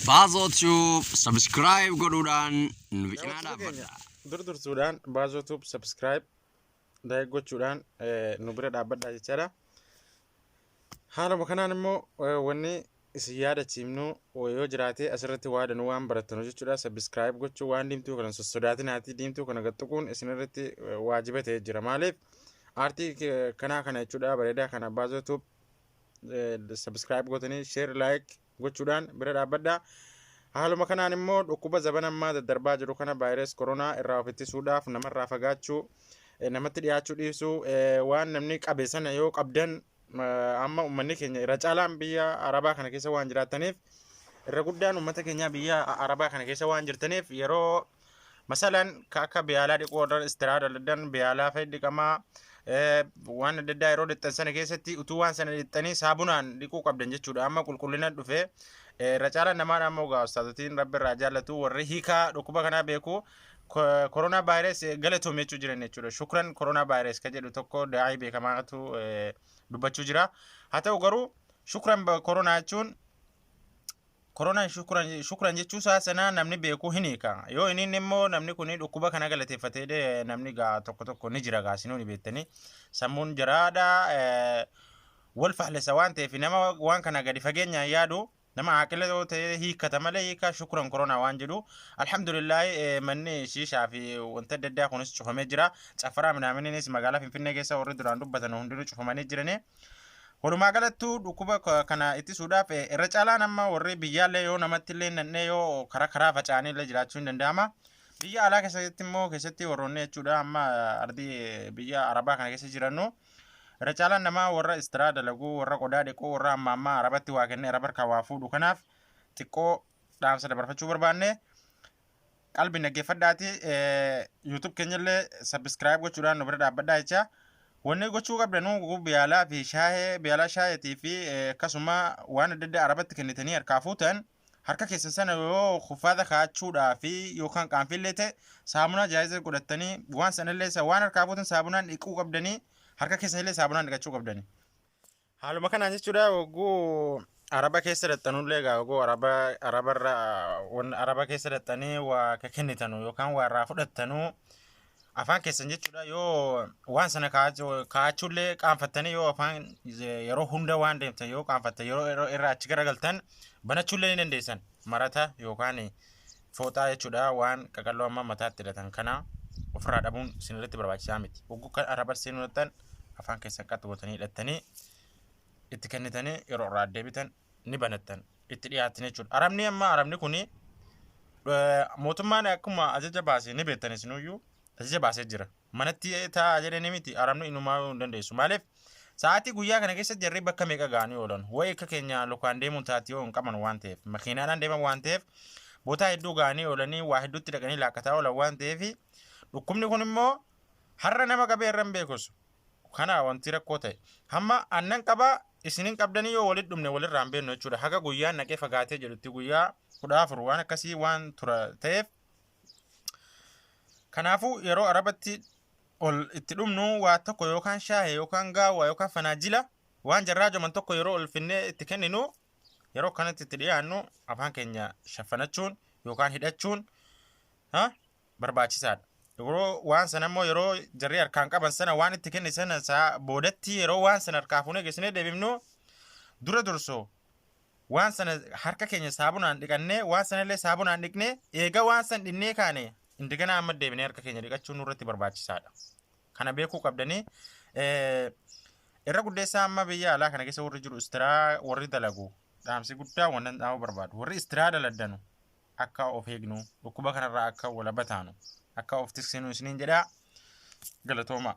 Baazoo Tube subscribe godhuudhaan nu bicinaa dhaabbadha. Dur dursuudhaan Baazoo Tube subscribe like gochuudhaan eh, nu bira dhaabbadhaa jechaadha. Haaluma kanaan immoo eh, wanni isin yaadachiifnu eh, yoo jiraate asirratti waa danuu waan barattanu jechuudha. Subscribe gochuu waan diimtuu kana sossodaatinaati. Diimtuu kana gaxxuquun isinirratti eh, waajiba ta'ee jira. Maaliif? Aartii ke- kanaa kana jechuudha bareedaa kana Baazoo Tube subscribe gootanii share like gochuudhaan bira dhaabbadhaa. Haaluma kanaan immoo dhukkuba zaban ammaa daddarbaa jiru kana vaayirasii koronaa irraa of ittisuudhaaf namarraa fagaachuu eh, namatti dhiyaachuu dhiisuu eh, waan namni qabe sana yoo qabdan eh, amma uummanni keenya irra caalaan biyya arabaa kana keessa waan jiraataniif irra guddaan uummata keenyaa biyya a- arabaa kana keessa waan jirtaniif yeroo masalan ka akka biyaalaa dhiquu warra istiraa daladan biyaalaa fa'i dhiqamaa eh, waan adda addaa yeroo dhixxan sana keessatti utuu waan sana dhixxanii saabunaan dhiquu qabdan jechuudha amma qulqullina dhufe eh, irra caalaan namaan ammoo gaa ustaazotiin rabbi irraa jaallatu warri hiikaa dhukkuba kanaa beeku ko- koronaa vaayirees eh, galatoom jechuu jiran jechuudha shukran koronaa vaayirees ka jedhu tokko daa'ii beekamaatu eh, dubbachuu jira haa ta'u garuu shukran ba- koronaa jechuun Koronan shukran shukran jechuu isaa sana namni beeku hin hiika. Yoo hin hiinne immoo namni kun dhukkuba kana galateeffatee dhe namni gaa tokko tokko ni jira gaa sinuu ni beektanii. Sammuun jaraadha eh, wal faallessa waan ta'eef nama waan kana gadi fageenyaan yaadu nama aaqila yoo ta'e hiikkata malee hiika shukran koronaa waan jedhu. Alhamdulillaahi eh, manni shiishaa fi wanta adda addaa kunis cufamee jira. Caffaraa minaaminiinis magaalaa Finfinnee keessa warri duraan dubbatan hundinuu cufamanii jiranii. Walumaa galattuu dhukkuba ka- kana ittisuudhaaf eh, irra caalaan amma warri biyyaallee yoo namatti illee nannee yoo karaa karaa faca'anii illee jiraachuu hin danda'ama. Biyya alaa keessatti immoo keessatti warroonni jechuudha amma eh, ardii eh, biyya arabaa kana keessa jirannu irra caalaan namaa warra istiraa dalaguu warra qodaa dhiquu warra amma ammaa arabatti waa kennee araba harkaa waa fuudhu kanaaf xiqqoo dhaamsa dabarfachuu barbaanne. qalbi naggeeffadhaati YouTube keenyallee subscribe gochuudhaan nu bira dhaabbadhaa jecha wanni gochuu qabda nu biyaalaa fi shaayee biyaalaa shaayeetii fi akkasuma waan adda addaa arabatti kennitanii harkaa fuutan harka keessan sana yoo kuffaata kaachuudhaa fi yookaan qaanfillee ta'e saamunaa jaayiza godhattanii waan sanallee waan harkaa fuutan saabunaan dhiquu qabdanii harka keessanillee saabunaan dhiqachuu qabdanii. Haaluma kanaan jechuudha hogguu araba keessa dhaxxanullee egaa hogguu araba arabarra wan araba keessa dhaxxanii waa ka kennitanu yookaan waa irraa fudhattanu afaan keessan jechuudha yoo waan sana kaa'achu- kaa'achuullee qaanfattanii yoo afaan ze- yeroo hunda waan deemtan yoo qaanfattan yeroo yeroo irraa achi garagaltan banachuullee ni dandeessan marata yookaan Fooxaa jechuudha waan qaqalloo amma mataatti hidhatan kana ofirraa dhabuun sinirratti barbaachisaa miti. Hogguu kan arraba seenuu hidhattan afaan keessan qaxxu gootanii hidhattanii itti kennitanii yeroo irraa deebitan ni banattan itti dhiyaattan jechuudha. Arabni amma arabni kuni mootummaan akkuma ajaja baase ni beektan isinuyyuu ajaja baasee jira. manatti taa'aa jedhanii miti arabni inumaa hin dandeessu maaliif sa'aatii guyyaa kana keessa jarri bakka meeqa ga'anii oolan wayi akka keenya lukaan deemuun taati yoo hin qaban waan ta'eef makiinaadhaan deeman waan ta'eef bootaa hedduu ga'anii oolanii waa hedduutti dhaqanii laakkataa oolan waan ta'eef dhukkubni kun immoo har'a nama qabee irra hin beekus kana wanti rakkoo ta'e hamma annan qabaa isinin qabdanii yoo walitti dhumne walirraa hin beeknu jechuudha haga guyyaan naqee fagaatee jedhutti guyyaa kudha afur waan akkasii waan tura ta'eef Kanaafuu yeroo arabatti ol itti dhumnu waa tokko yookaan shaahee yookaan gaawwaa yookaan fanaajila waan jarraa joman tokko yeroo ol finnee itti kenninu yeroo kanatti itti dhiyaannu afaan keenya shaffanachuun yookaan hidhachuun barbaachisaadha. Yeroo waan sana immoo yeroo jarri harkaan qaban sana waan itti kenne sana boodatti yeroo waan sana harkaa fuunee geessinee deebifnu dura dursoo waan sana harka keenya saabunaan dhiqannee waan sana illee saabunaan dhiqnee eega waan san dhinnee kaane indaganaa amma deebinee harka keenya dhiqachuun nurratti barbaachisaadha. Kana beekuu qabdanii irra guddeessaa amma biyya alaa kana keessa warri jiru istiraa warri dalagu dhaamsi guddaa wannan dhaamuu barbaadu warri istiraa daladdanu akka of eegnu dhukkuba kanarraa akka walaba taanu akka of tiksinu isiniin jedhaa galatoomaa.